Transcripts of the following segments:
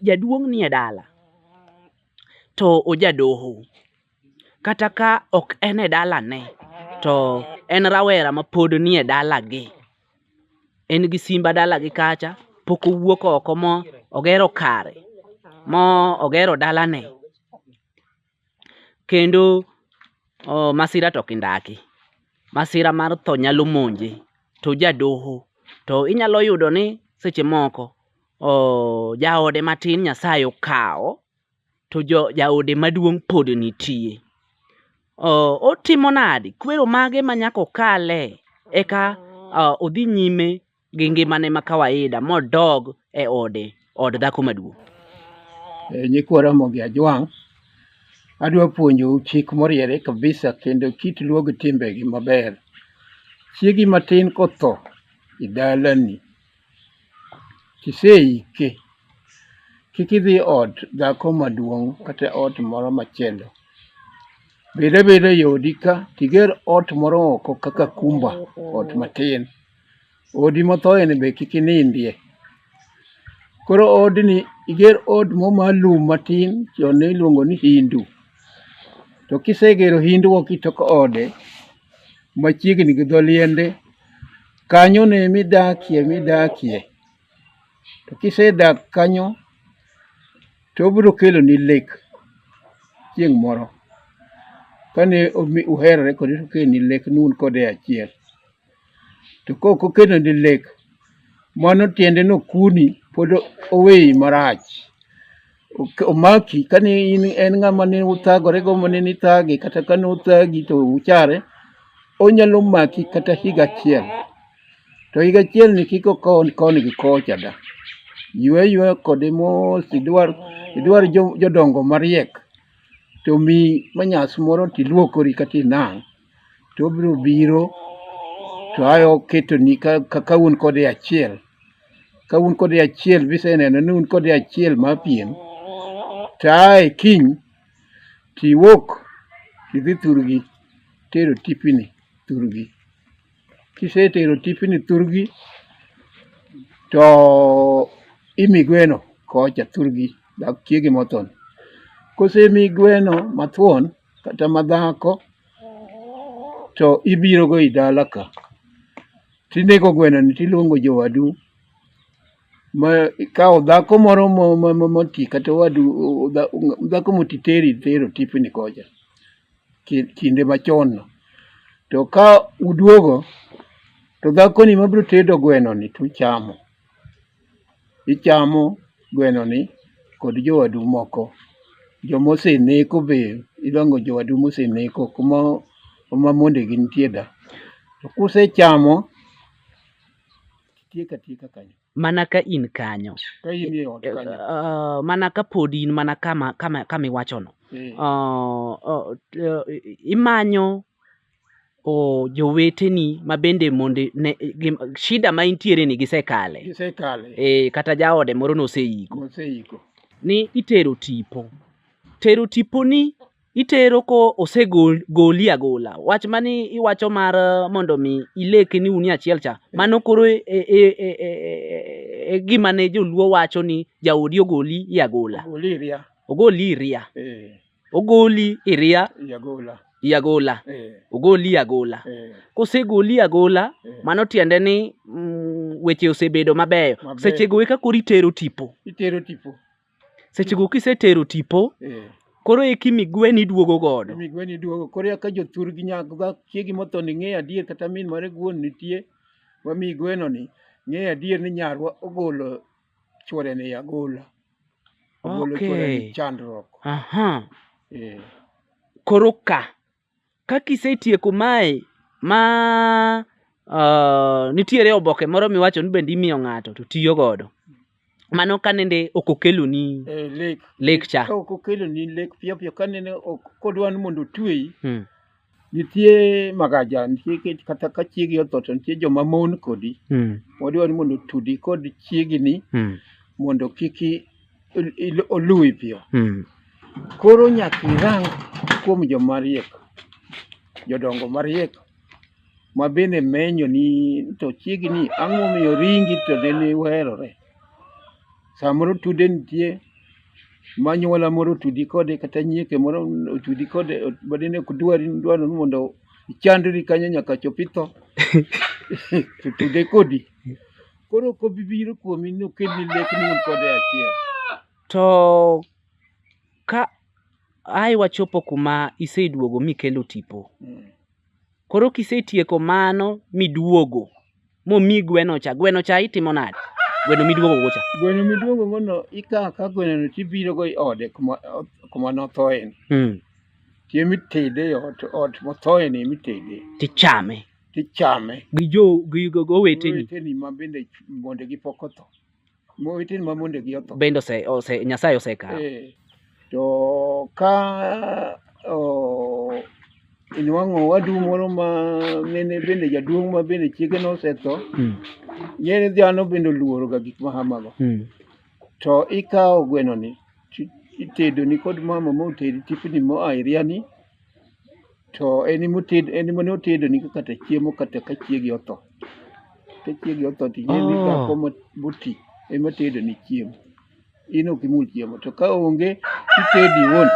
jaduong' nie dala to ojadoho kata ka ok en e dalane to en rawera mapod nie dalagi, en gi simba dalagi kacha pok owuok oko mo ogero kare mo ogero dalane. kendo oh, masira to kindaki masira mar tho nyalo monje to jadoho to inyalo yudo ni seche moko oh, jaode matin nyasaye okawo to jo, jaode maduong' pod nitie oh, otimo nadi kwero mage ma nyaka okale eka oh, odhi nyime gi ngimane ma kawaida modog e ode od dhako maduong'. Eh, nyikwa Ramogi Ajwang', adwa puonjou chik moriere kabisa kendo kit luo gi timbegi maber. Chiegi matin kotho e dalani, kiseike, kik idhi ot dhako maduong' kata ot moro machielo. Bed abeda e odi ka, tiger ot moro oko kaka kumba, ot matin. Odi mothoyeni be kik inindie. Koro odni iger od mo ma lum matin chon ne iluongo ni hindu. To kisegero hindu ok itok ode machiegni gi dho liende kanyo ne midakie midakie. To kisedak kanyo to obiro keloni lek chieng' moro kane uherore kode to okeloni lek ni un kode e achiel. to kok okeno ni lek mano tiende no kuni pod oweyi marach omaki kani in en ng'ama ne uthagore go mane ni thage kata kane uthagi to uchare onyalo maki kata higa achiel to higa achiel ni kik okon koni gi kocha da ywe ywe kode mos idwar idwar jodongo mariek to mi manyas moro tiluokori kata inang' to obiro biro to ayo ketoni ka un kode achiel ka un kode achiel biseneno ni un kode achiel ma piem to ae kiny tiwuok tidhi thurgi tero tipini thurgi kisetero tipini thurgi to imi gweno kocha thurgi dak chiege mothon kosemi gweno mathuon kata madhako to ibirogo i dala ka tinego gwenoni tiluongo jowadu ma ikawo dhako moro moti kata wadu dhako moti teri tero tipni kocha kinde machon no to ka uduogo to dhakoni mabiro tedo gwenoni tuchamo ichamo gwenoni kod jowadu moko. Jomoseneko be idwang'o jowadu moseneko kuma kuma mondegi nitie da. To kusechamo tiek atieka kanyo. Mana ka in kanyo. Ka in e ot kanyo. Uh, mana ka pod in mana kama kama kama iwachono. Eh. Uh, uh, imanyo o joweteni ma bende mondo ne gim, shida ma intiere ni gisekale gisekale e, kata jaode moro noseiko moseiko ni itero tipo tero tiponi itero ko osegoli agola wach mani iwacho mar eh, mondo mi ileke ni unie achiel cha mano koro e, e, e, e, e, e gima ne joluo wacho ni jaodi ogoli i agola oliria ogoli iria eh, ogoli iria yagola yagola eh, ogoli yagola eh, kosegoli yagola eh. mano tiende ni mm, weche osebedo mabeyo Mabeyo. sechego eka koro itero tipo itero tipo sechego kisetero tipo eh. koro eki migweni duogo godo migweni duogo koro eka jothur gi nyago ga chiegi motho ni ng'eyo adier kata min mare guon nitie wami gweno ni ng'eyo adier ni nyarwa ogolo chwore ni yagola Ogolo chuore ni Okay. chandruok. Aha. Eh, Koro ka. Ka kisetieko mae ma uh, nitiere oboke moro miwacho ni bende imiyo ng'ato to tiyo godo. Mano ka nende ok okeloni eh, lek. lek cha. Ka ok okeloni lek piyo piyo ka nene ok kodwa ni mondo otweyi, Hmm. Nitie magaja, nitie kech kata ka chiegi otho to nitie joma mon kodi. Mm. Wadwaro ni mondo otudi kod chiegi ni Mm. mondo kik i- il- il- oluwi piyo. Mm. Koro nyaka irang kuom joma riek, jodongo mariek ma bende menyo ni to chiegi ni ang'o momiyo ringi to nene werore. Samoro tude nitie ma anyuola moro otudi kode kata nyieke moro otudi kode badine ok dwari dwaro ni mondo ichandri kanyo nyaka chop itho to tude kodi koro ok obi biro kuomi ni okelni lek ni un kode achiel To ka ai wachopo kuma iseduogo mikelo tipo, Mm. Koro kisetieko mano miduogo momi gweno cha, gweno cha itimo nade? Gweno miduogo go cha. Gweno miduogo go no ikawo ka gweno no tibiro go e ode kuma kuma nothoye ni. Mm. Tiemi tede e ot ot mothoye ni mitede. Tichame. Tichame. Gi jo gi go weteni. Weteni ma bende mondegi pok otho. Mowetene ma mondegi otho. Bende ose, ose, Nyasaye osekawo. Eh, to ka oh, inwang'o wadu moro ma mene bende jaduong' ma bende chiege nosetho, Mm. nyene dhano bende oluoroga gik ma hamago. Mm. To ikawo gwenoni, ti- itedoni kod mama motedi tipni moa iriani, to en ema oted en ema ne otedoni ka kata chiemo kata ka chiegi otho ka chiegi otho to ing'e ni Oh. dhako mo- moti ema tedoni chiemo in ok imul chiemo to ka onge itedi iwuon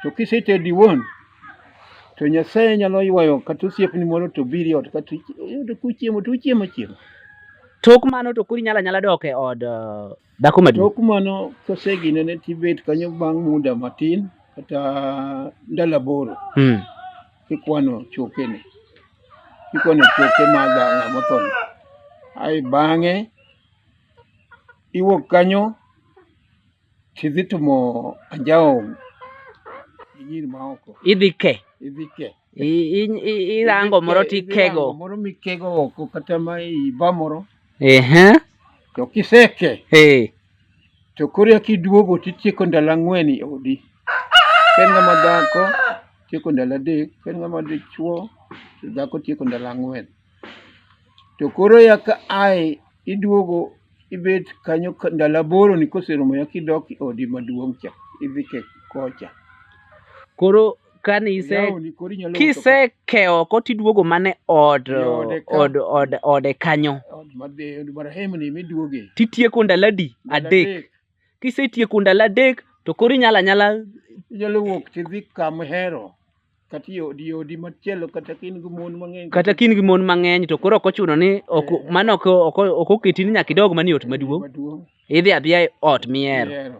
to kisetedi iwuon to nyasaye nyalo ywayo kata osiepni moro to biri ot kata iyudo kuchiemo to uchiemo achiema Tok mano to koro inyalo anyala dok e od eh, Dhako maduong'. Tok mano kosegine ne tibet kanyo bang' muda matin kata ndalo aboro Mm. kikwano chokene kikwano choke mag ng'a mothono ae bang'e iwuok kanyo tidhi tumo anjawo gi nyiri maoko Idhi ke. idhi ke I- i- i- Irango moro Idhi ke- idhi rango tikego. moro mikego oko kata ma iba moro Ehe. To kiseke. Eh. To koro kiduogo titieko ndalo ang'wen e odi. Ken ng'ama dhako tieko ndalo adek, ken ng'ama dichuo to dhako tieko ndalo ang'wen. To koro ya ka ae iduogo ibet kanyo ndalo aboro ni koserumo ya kidok e odi maduong' cha idhi kocha. Koro kane ise Yawoni koro inyalo uso kisekewo oko tiduogo mane od Yode ka. od od ode kanyo ka- od madhi- od marahemni miduoge titieko ndalo adi Ndalo adek kisetieko ndalo adek to koro inyala nyala inyalo wuok tidhi kama ihero kata i odi odi machielo kata ka in gi mon mang'eny kata ka in gi mon mang'eny to koro ok ochuno ni ok Eh. mano ok ok- ok oketi ni nyaka idog manie ot maduong' maduong' idhi adhiya e ot mihero mihero